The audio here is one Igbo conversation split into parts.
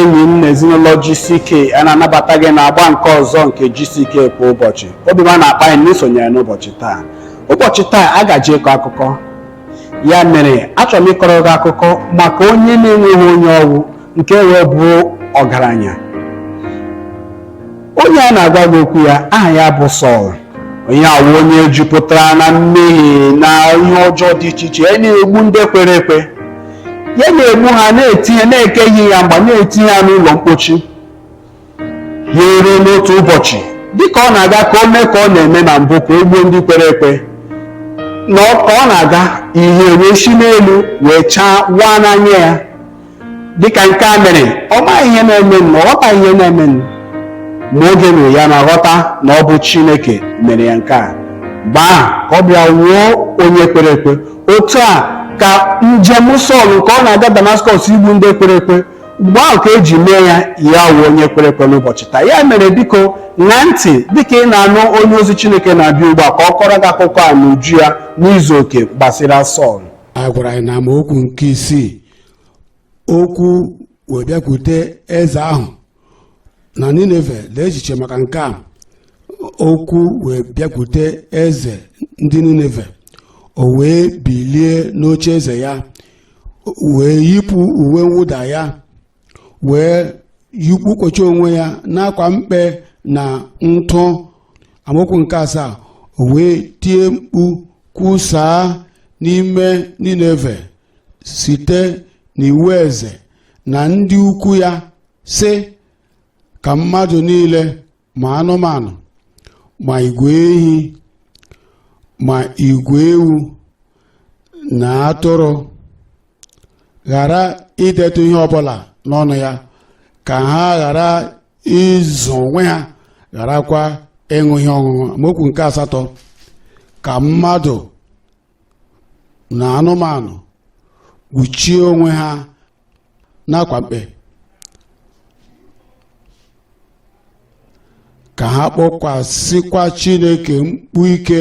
enyi m na ezinụlọ GCK a na-anabata gị n'agba nke ọzọ nke GCK kwa ụbọchị obi ọma na-akpa anyị na i sonyere n'ụbọchị taa ụbọchị taa a ga-eji kọọ akụkọ ya mere achọrọ m ịkọrọ gị akụkọ maka onye na-enweghị onye ọ wụ nke wee bụrụ ọgaranya onye a na-agwa gị okwu ya aha ya bụ Sọl onye a wụ onye jupụtara na mmehie na ihe ọjọọ dị iche iche ya na-egbu ndị kwere ekwe ya na-egbu ha na-etinye na-ekechi ha mgba na-etinye ha n'ụlọ mkpochi ya eruo n'otu ụbọchị dịka ọ na-aga ka o mee ka ọ na-eme na mbụ ka o gbuo ndị kwere ekwe na ọ- ka ọ na-aga ihe wee si n'elu wee chaa waa n'anya ya dịka nke a mere ọ maghị ihe na-eme nụ, ọ ghọtaghị ihe na-eme nụ. ma oge mere ya na-aghọta na ọ bụ chineke mere ya nke a mgbe ahụ ka ọ bịa wụọ onye kwere ekwe otu a ka njem Sọl nke ọ na-aga Damaskọs igbu ndị kwere ekwe mgbe ahụ ka e ji mee ya ya wụọ onye kwere ekwe n'ụbọchị taa ya mere biko ṅaa ntị dịka ị na-anụ onye ozi Chineke na-abịa ugbu a ka ọ kọrọ gị akụkọ a n'uju ya n'izu oke gbasara Sọl a gwara anyị n'amaokwu nke isii okwu wee bịakwute eze ahụ na nineve lee echiche maka nke a okwu wee bịakwute eze ndị nineve o wee bilie n'oche eze ya wee yipụ uwe mwụda ya wee yikpukọcha onwe ya n'akwa mkpe na ntụ amaokwu nke asaa o wee tie mkpu kwusaa n'ime nineve site n'iwu eze na ndị ukwu ya sị ka mmadụ niile ma anụmanụ ma igwe ehi ma igwe ewu na atụrụ ghara idetụ ihe ọbụla n'ọnụ ya ka ha ghara ịzụ onwe ha gharakwa ịṅụ ihe ọṅụṅụ amaokwu nke asatọ ka mmadụ na anụmanụ kpuchie onwe ha n'akwa mkpe ka ha kpọkwasịkwa Chineke mkpu ike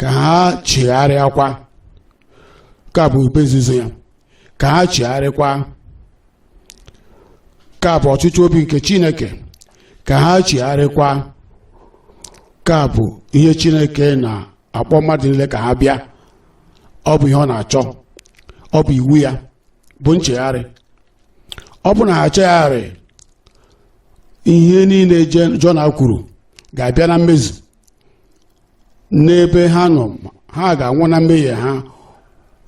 ka ha chigharịakwa nke a bụ ihe nzuzo ya ka ha chigharịkwa nke a bụ ọchịchọ obi nke Chineke ka ha chigharịkwa nke a bụ ihe Chineke na akpọ mmadụ niile ka ha bịa ọ bụ ihe ọ na-achọ ọ bụ iwu ya bụ nchegharị ọ bụ na ha echegharịghị ihe niile Je- jona kwuru ga-abịa na mmezu n'ebe ha nọ ha ga-anwụ na mmehie ha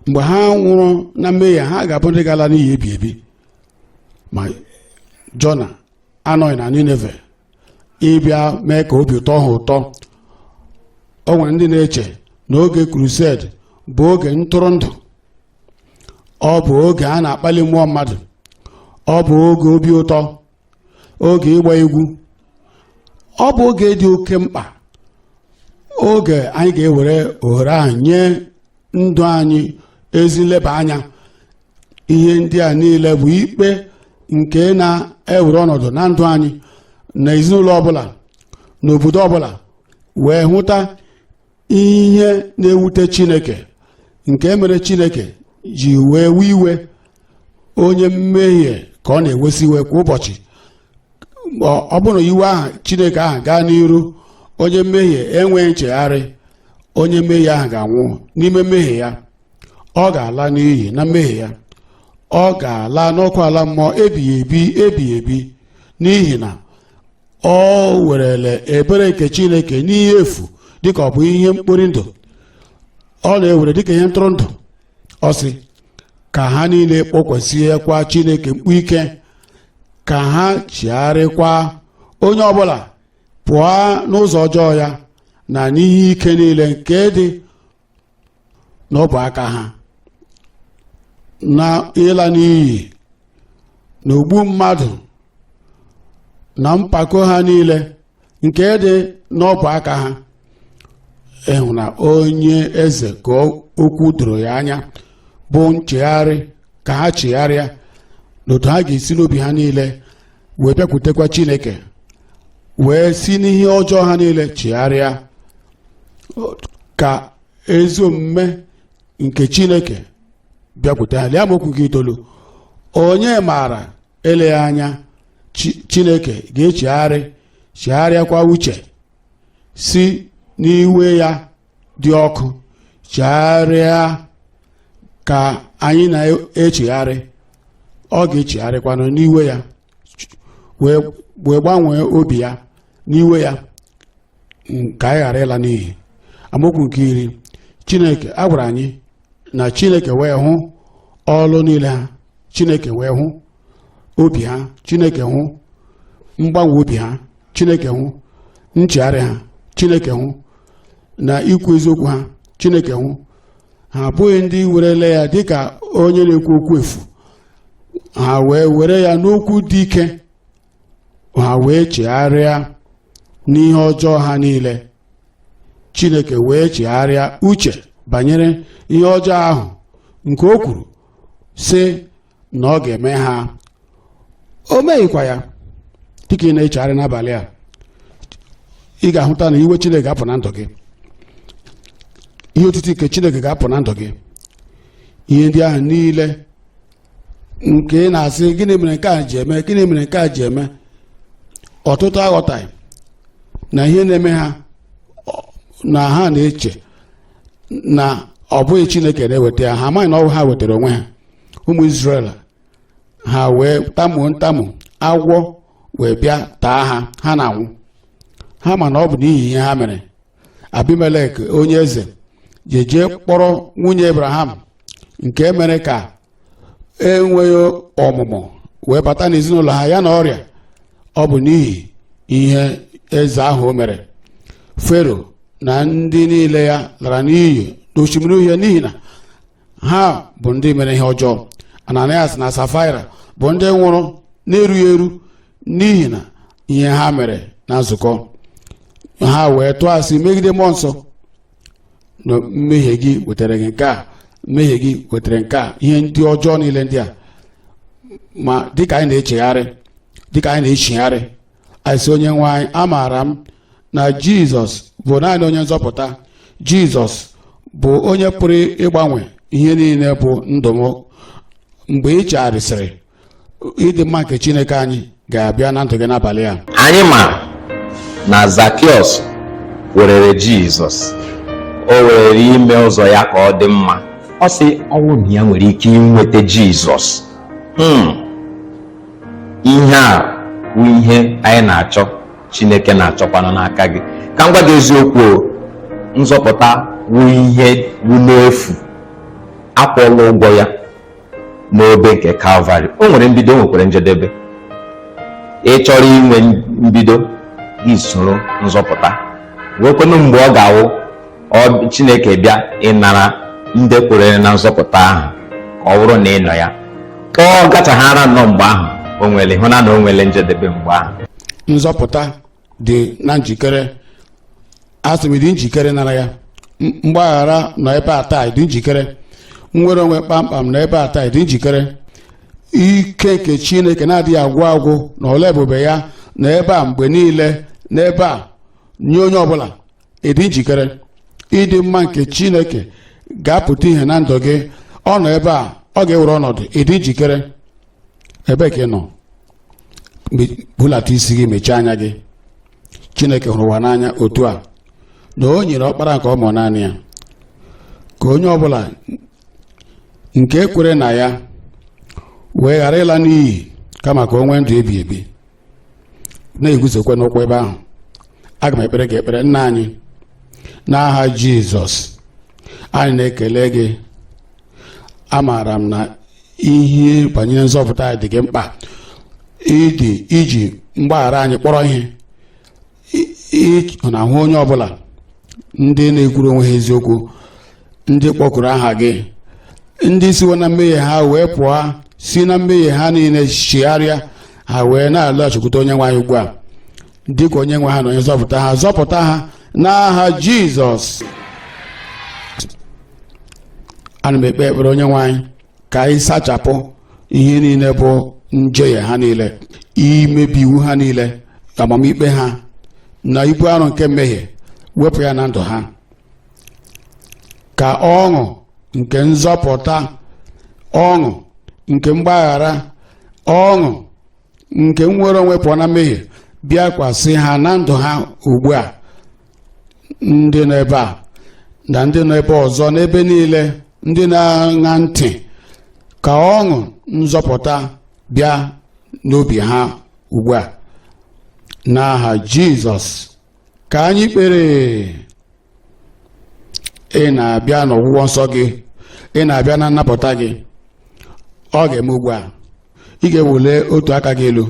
mgbe ha nwụrụ na mmehie ha ga-abụ ndị ga-ala n'iyi ebi ebi ma jona anọghị na nineve ịbịa mee ka obi tọọ ha ụtọ o nwere ndị na-eche na oge crusade bụ oge ntụrụndụ ọ bụ oge a na-akpali mmụọ mmadụ ọ bụ oge obi ụtọ oge ịgba egwu ọ bụ oge dị oke mkpa oge anyị ga-ewere ohere ahụ nye ndụ anyị ezi nleba anya ihe ndị a niile bụ ikpe nke na-ewere ọnọdụ na ndụ anyị na ezinụlọ ọbụla na obodo ọbụla wee hụta ihe na-ewute chineke nke mere chineke ji wee wee iwe onye mmehie ka ọ na-ewesi iwe kwa ụbọchị ọ ọ bụrụ na iwe ahụ chineke ahụ gaa n'iru onye mmehie enweghị nchegharị onye mmehie ahụ ga-anwụ n'ime mmehie ya ọ ga-ala n'iyi na mmehie ya ọ ga-ala n'ọkụ ala mmụọ ebighị ebi ebighị ebi n'ihi na o werela ebere nke chineke n'ihe efu dịka ọ bụ ihe mkpori ndụ ọ na-ewere dịka ihe ntụrụndụ ọ sị ka ha niile kpọkusiekwa chineke mkpu ike ka ha chigharịkwa onye ọbụla pụọ n'ụzọ ọjọọ ya na n'ihe ike niile nke dị n'ọbụ aka ha na ịla n'iyi na ogbu mmadụ na mpako ha niile nke dị n'ọbụ aka ha ị hụ na onye eze ka okwu doro ya anya bụ nchegharị ka ha chegharịa na otu ha ga-esi n'obi ha niile wee bịakwutekwa chineke wee si n'ihe ọjọọ ha niile chigharịa ka ezi omume nke chineke bịakwute ha lee amaokwu nke itoolu onye maara eleghị anya Chi- chineke ga-echigharị chegharịakwa uche si n'iwe ya dị ọkụ chigharịa ka anyị na-echegharị ọ ga-echegharịkwanụ n'iwe ya wee wee gbanwee obi ya n'iwe ya ka anyị ghara ịla n'iyi amaokwu nke iri chineke a gwara anyị na chineke wee hụ ọlụ niile ha chineke wee hụ obi ha chineke hụ mgbanwe obi ha chineke hụ nchegharị ha chineke hụ na ikwu eziokwu ha chineke hụ ha abụghị ndị werele ya dịka onye na-ekwu okwu efu ha wee were ya n'okwu dị ike ha wee chegharịa n'ihe ọjọọ ha niile chineke wee chegharịa uche banyere ihe ọjọọ ahụ nke o kwuru sị na ọ ga-eme ha o meghịkwa ya dịka ị na-echegharị n'abalị a ị ga-ahụta na iwe chineke ga-apụ na ndụ gị ihe otiti nke chineke ga-apụ na ndụ gị ihe ndị ahụ niile nke ị na-asị gịnị mere nke a ji eme gịnị mere nke a ji eme ọtụtụ aghọtaghị na ihe na-eme ha ọ- na ha na-eche na ọ bụghị chineke na-eweta ya ha amaghị na ọ wụ ha wetara onwe ha ụmụ Izrel ha wee tamuo ntamu agwọ wee bịa taa ha ha na-anwụ ha ma na ọ bụ n'ihi ihe ha mere Abimelek onye eze je jee kpọrọ nwunye Abraham nke mere ka enweghị ọmụmụ wee bata n'ezinụlọ ha ya na ọrịa ọ bụ n'ihi ihe eze ahụ o mere fero na ndị niile ya lara n'iyi n'osimiri uhie n'ihi na ha bụ ndị mere ihe ọjọọ ananias na safaira bụ ndị nwụrụ na-erughị eru n'ihi na ihe ha mere na nzukọ ha wee tụọ asị megide mmụọ nsọ na mmehie gị wetara gị nke a mmehie gị wetara nke a ihe ndị ọjọọ niile ndị a ma dịka anyị na-echegharị dịka anyị na-echigharị anyị sị onye nwe anyị amaara m na jizọs bụ naanị onye nzọpụta jizọs bụ onye pụrụ ịgbanwe ihe niile bụ ndụ m mgbe ị chegharịsịrị ịdị mma nke chineke anyị ga-abịa na ndụ gị n'abalị a anyị ma na zakiọs werere jizọs o werere ime ụzọ ya ka ọ dị mma ọ sị ọ wụ na ya nwere ike inweta jizọs Hmm. ihe a wụ ihe anyị na-achọ chineke na-achọkwanụ n'aka gị ka m gwa gị eziokwu nzọpụta wụ ihe wụ n'efu akwụọla ụgwọ ya n'obe nke kalvarị o nwere mbido o nwekwara njedebe ị chọrọ inwe mbido gị soro nzọpụta nwekwanụ mgbe ọ ga-awụ ọ chineke bịa ịnara ndị kwere na nzọpụta ahụ ka ọ bụrụ na ị nọ ya ka ọ gachaghara nnọọ mgbe ahụ o nwere hụ na na o nwere njedebe mgbe ahụ nzọpụta dị na njikere asị m dị njikere nara ya mgbaghara nọ ebe a taa dị njikere nnwere onwe kpamkpam nọ ebe a taa dị njikere ike nke chineke na-adịghị agwụ agwụ na ọlụ ebube ya nọ ebe a mgbe niile n'ebe a nye onye ọbụla ị dị njikere ịdị mma nke chineke ga-apụta ihe na ndụ gị ọ nọ ebe a ọ ga-ewere ọnọdụ ị dị njikere ebee ka ị nọ bulata isi gị mechie anya gị chineke hụrụ ụwa n'anya otu a na o nyere ọkpara nke ọ mụ naanị ya ka onye ọbụla nke kwere na ya wee ghara ịla n'iyi kama ka o nwee ndụ ebi ebi na-eguzokwa n'ụkwụ ebe ahụ aga m ekpere gị ekpere nna anyị n'aha jizọs anyị na-ekele gị amaara m na ihe banyere nzọpụta dị gị mkpa ị dị i ji mgbaghara anyị kpọrọ ihe ị na-ahụ onye ọbụla ndị na-ekwuru onwe ha eziokwu ndị kpọkuru aha gị ndị siwo na mmehie ha wee pụọ si na mmehie ha niile chigharịa ha wee na-alọghachikwute onye nwe anyị ugbu a dịka onye nwe ha na onye nzọpụta ha zọpụta ha n'aha jizọs ana m ekpe ekpere onye nwe anyị ka ị sachapụ ihe niile bụ njehie ha niile imebi iwu ha niile amamikpe ha na ibu arụ nke mmehie wepụ ya na ndụ ha ka ọṅụ nke nzọpụta ọṅụ nke mgbaghara ọṅụ nke nnwere onwe pụọ na mmehie bịakwasị ha na ndụ ha ugbu a ndị nọ ebe a na ndị nọ ebe ọzọ n'ebe niile ndị na-aṅa ntị ka ọṅụ nzọpụta bịa n'obi ha ugbu a n'aha Jizọs ka anyị kpere ị na-abịa n'ọgwụgwọ nsọ gị ị na-abịa na nnapụta gị ọ ga-eme ugbu a ị ga-eweli otu aka gị elu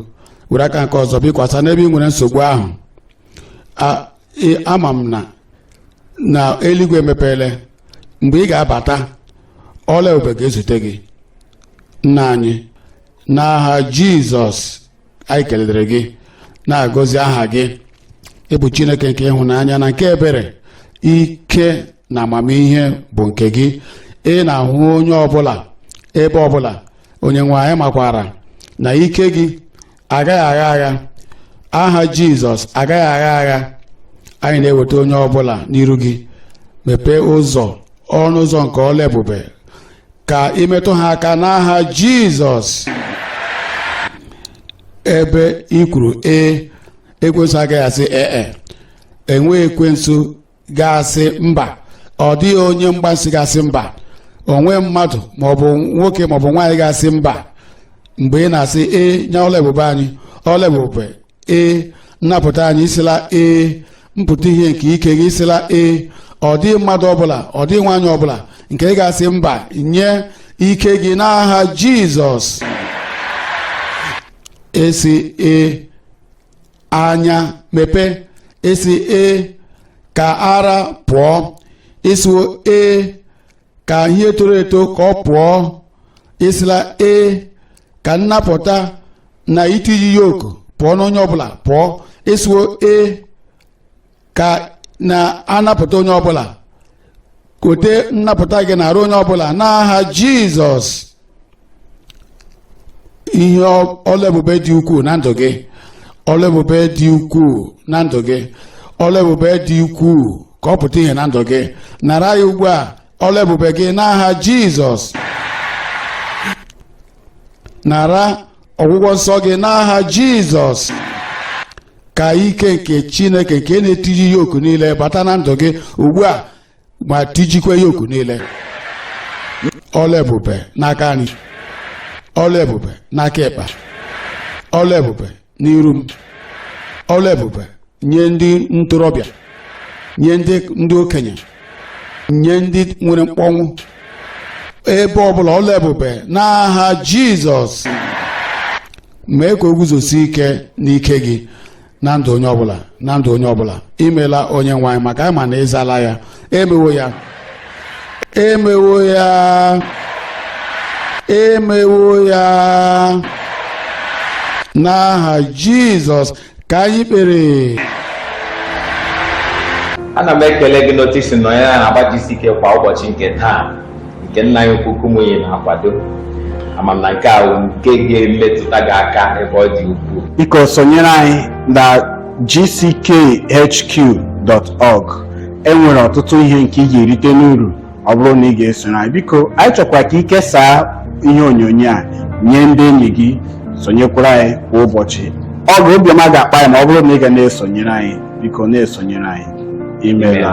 were aka nke ọzọ bikwasa n'ebe ị nwere nsogbu ahụ ama m na na eluigwe emepeele mgbe ị ga-abata ọlụ ebube ga-ezute gị nna anyị n'aha jizọs anyị kelere gị na-agọzi aha gị ị bụ chineke nke ịhụnanya na nke ebere ike na amamihe bụ nke gị ị na-ahụ onye ọbụla ebe ọbụla onye nwe anyị makwara na ike gị agaghị agha agha aha jizọs agaghị agha agha anyị na-eweta onye ọbụla n'iru gị mepee ụzọ ọnụ ụzọ nke ọlụ ebube ka i metụ ha aka n'aha jizọs ebe i kwuru ee ekwensu agaghị asị ee enweghị ekwensu ga-asị mba ọ dịghị onye mgbansi ga-asị mba o nweghị mmadụ maọbụ nwoke maọbụ nwaanyị ga-asị mba mgbe ị na-asị ee nye ọlụ ebube anyị ọlụ ebube ee nnapụta anyị ị sịla ee mpụta ihe nke ike gị ị sịla ee ọ dịghị mmadụ ọbụla ọ dịghị nwaanyị ọbụla nke ga-asị mba nye ike gị n'aha jizọs ị sị ee anya mepee ị sị ee ka ara pụọ ị sịwo ee ka ihe toro eto ka ọ pụọ ị sịla ee ka nnapụta na itiji yoku pụọ n'onye ọbụla pụọ ị sịwo ee ka a na-anapụta onye ọbụla kote nnapụta gị n'arụ onye ọbụla n'aha jizọs ihe ọlụ ebube dị ukwuu na ndụ gị ọlụ ebube dị ukwuu na ndụ gị ọlụ ebube dị ukwuu ka ọ pụta ihe na ndụ gị nara ya ugbu a ọlụ ebube gị n'aha jizọs nara ọgwụgwọ nsọ gị n'aha jizọs ka ike nke chineke nke na-etiji yoku niile bata na ndụ gị ugbu a ma tijikwa yoku niile ọlụ ebube n'aka nri ọlụ ebube n'aka ịkpa ọlụ ebube n'iru m ọlụ ebube nye ndị ntorobịa nye ndị ndị okenye nye ndị nwere mkpọnwụ ebe ọbụla ọlụ ebube n'aha jizọs mee ka o guzosie ike n'ike gị na ndụ onye ọbụla na ndụ onye ọbụla imela onye nwe anyị maka anyị ma na ị zala ya emewo ya emewo ya emewo ya n'aha jizọs ka anyị kpere ana m ekele gị n'otu i si nọnyere n'agba gck kwa ụbọchị nke taa nke nna anyị ukwu Kumuyi na-akwado ama m na nke a bụ nke ga-emetụta gị aka ebe ọ dị ukwuu biko sonyere anyị na gckhq.org enwere ọtụtụ ihe nke ị ga-erite n'uru ọ bụrụ na ị ga-esonyere anyị biko anyị chọkwa ka ị kesaa ihe onyonyo a nye ndị enyi gị sonyekwara anyị kwa ụbọchị ọ bụ obiọma ga-akpa anyị ma ọ bụrụ na ị ga na-esonyere anyị biko na-esonyere anyị imela